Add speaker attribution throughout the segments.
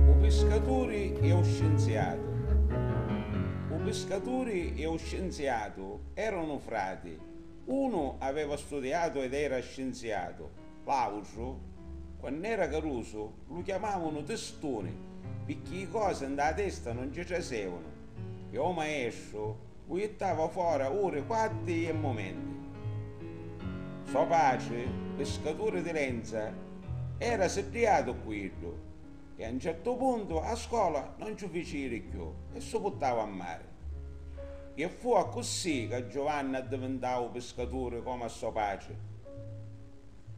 Speaker 1: U piscaturi e u scinziatu U piscaturi e u scinziatu eranu frati, unu aveva studiatu ed era scinziatu, l'autru, quann'era carusu, lu chiamavanu tistuni, picchì i cosi nta la testa non ci trasevanu, e o maestru, U jittava fora uri, quatti e mumenti. So patri, piscaturi di lenza, era siddiatu cu iddu e a 'n certu puntu a scola non ci fici jiri cchiù e si puttau a mari. E fu accussì ca Giovanni addivintau piscaturi comu a so patri.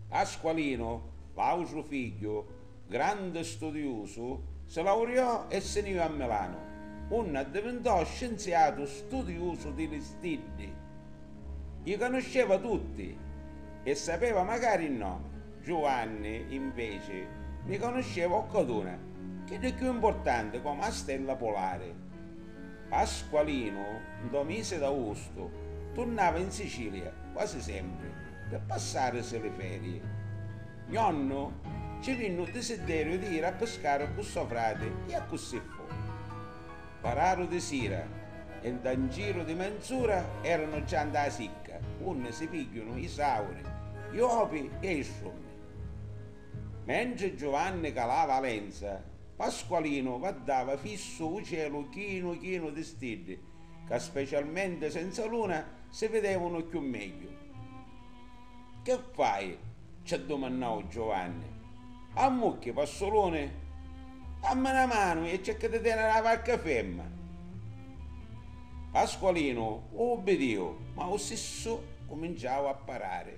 Speaker 1: Pasqualinu, l'autru figghiu, grandi studiusu, si lauriò e si ni jì a Milanu, unni addivintò scinziatu studiusu di li stiddi. Li canusceva tutti e sapeva macari i nomi. Giuvanni, inveci, ni canusceva occaduna, chiddi cchiù importanti comu a stella polari. Pasqualinu, ntô misi d'austu, turnava in Sicilia, quasi sempri, pi passarisi li ferii. Gnonnu, Ci vinni u disidderiu di iri a piscari cu so frati. E accussì fu. Pararu di sira e nta un giru di menz'ura eranu già nta a sicca unni si pigghiunu i sauri, i opi e i strummi. Mentri Giuvanni calava a lenza, Pasqualinu vaddava fissu u celu chinu chinu di stiddi ca specialmenti senza luna si videvunu cchiù megghiu. Che fai? ci addumannau Giovanni. Ammucchi, Passuluni? Dammi 'na manu e cerca di teniri la varca ferma. Pasqualinu ubbidiu, ma u sissu cuminciau a parari.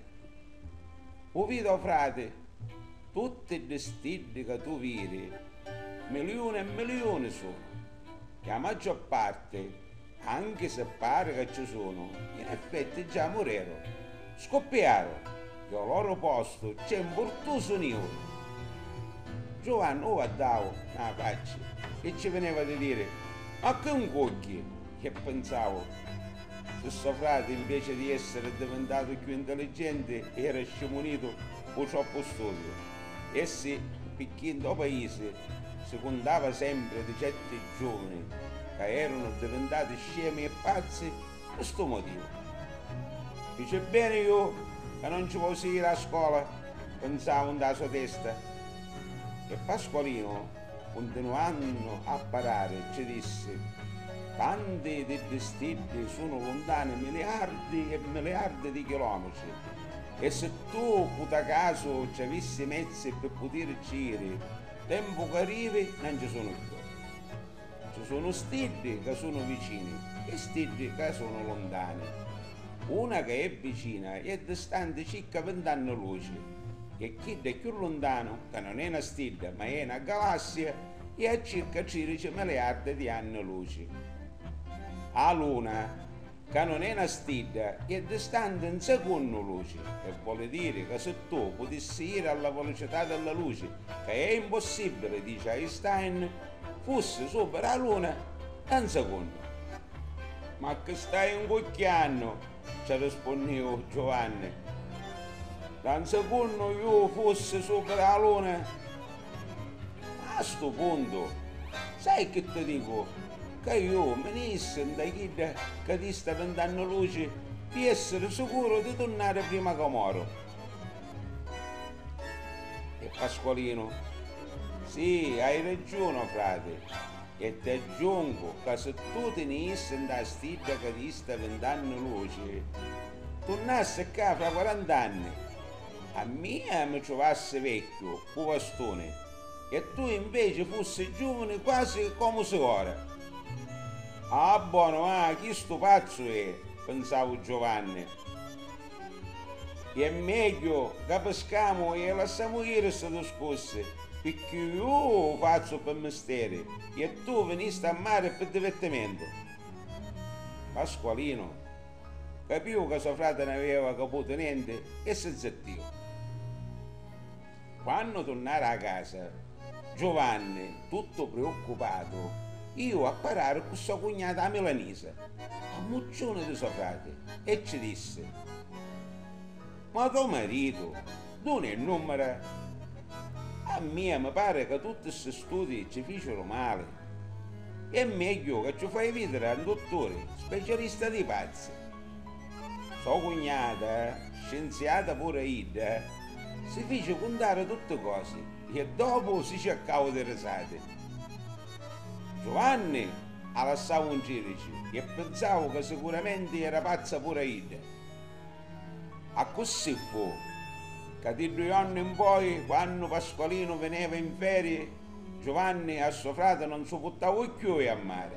Speaker 1: U vidi o frati, tutti ddi stiddi ca tu viri, miliuni e miliuni sunnu, e a maggior parti Anchi si pari ca cci sunu, in effetti già mureru. Scuppiaru! Chi ô loru postu cc'è 'n burtusu niuru! Giuvannu ua dau na facci e cci vineva di diri, Ma chi 'n cugghi? E pinsau, Si so frati, 'nveci di essiri addivintatu cchiù intelligenti, era scimunitu pû troppu studiu, e si picchì ntô paisi si cuntava sempri di certi giuvuni ca erunu divintati scemi e pazzi pi stu motivu. Fici beni ju ca non ci vosi iri a scola, pinsavu nta la so testa. E Pasqualinu, cuntinuannu a parari, ci dissi, Tanti d'iddi stiddi sunu luntani miliardi e miliardi di chilometri, e si tu puta casu ci avissi i mezzi pi putirici iri, Tempu ca rivi nan ci sunu cchiù. Ci sunu stiddi ca sunu vicini e stiddi ca sunu luntani. Una ca è vicina è distanti cicca vint'anni luci, che chidda è cchiù luntanu ca non è na stidda ma è na galassia e a circa tridici miliardi di anni luci. A luna. Ca nun è na stidda, è distanti 'n secunnu luci, e voli diri ca si tu putissi jiri a la velocità de la luci, ca è impossibili, dici Einstein, fussi supiri a luna ca 'n secunnu. Ma cchi stai 'ncucchiannu? ci rispunniu Giuvanni. Ca 'n secunnu ju fussi supiri a luna? A stu puntu, sai chi ti dicu, ca ju mi ni jissi nta chidda ca ti sta pintannu luci pi essiri sicuru di turnari prima ca moru. E Pasqualinu, Si, hai ragiunu, frati, e ti aggiungu ca si tu ti ni jissi nta a stidda ca ti sta pintannu luci, turnassi cca fra quarant'anni, a mia mi truvassi vecchiu, 'u vastuni, e tu inveci fussi giuvuni quasi comu si' ora. Ah, bonu, ah, chistu pazzu è, pinsavu Giovanni. È megghiu ca piscamu e lassamu jiri sti discussi, picchì ju 'u fazzu pi misteri e tu vinisti a mari pi divertimentu. Pasqualinu capiu ca so frati n'aveva caputu nenti e si zittiu. Quannu turnara a casa, Giuvanni, tuttu priuccupatu, iu a parari cu so cugnata 'a milanisa, ammucciuni di so frati e cci dissi, Ma to maritu duni è nummira? A mia mi pari ca tutti ssi studi cci ficiru mali. È megghiu ca cci fai vidiri a 'n dutturi specialista di pazzi. So cugnata, scinziata puru a idda, Si fici cuntari tutti cosi e ddopu si circau di risati. Giuvanni a lassau un cirici e pinsau ca sicuramenti era pazza puru a idda. Accussì fu ca di dui jonni in poi, quannu Pasqualinu vineva in ferii, Giuvanni a so frati non su puttau cchiui a mari.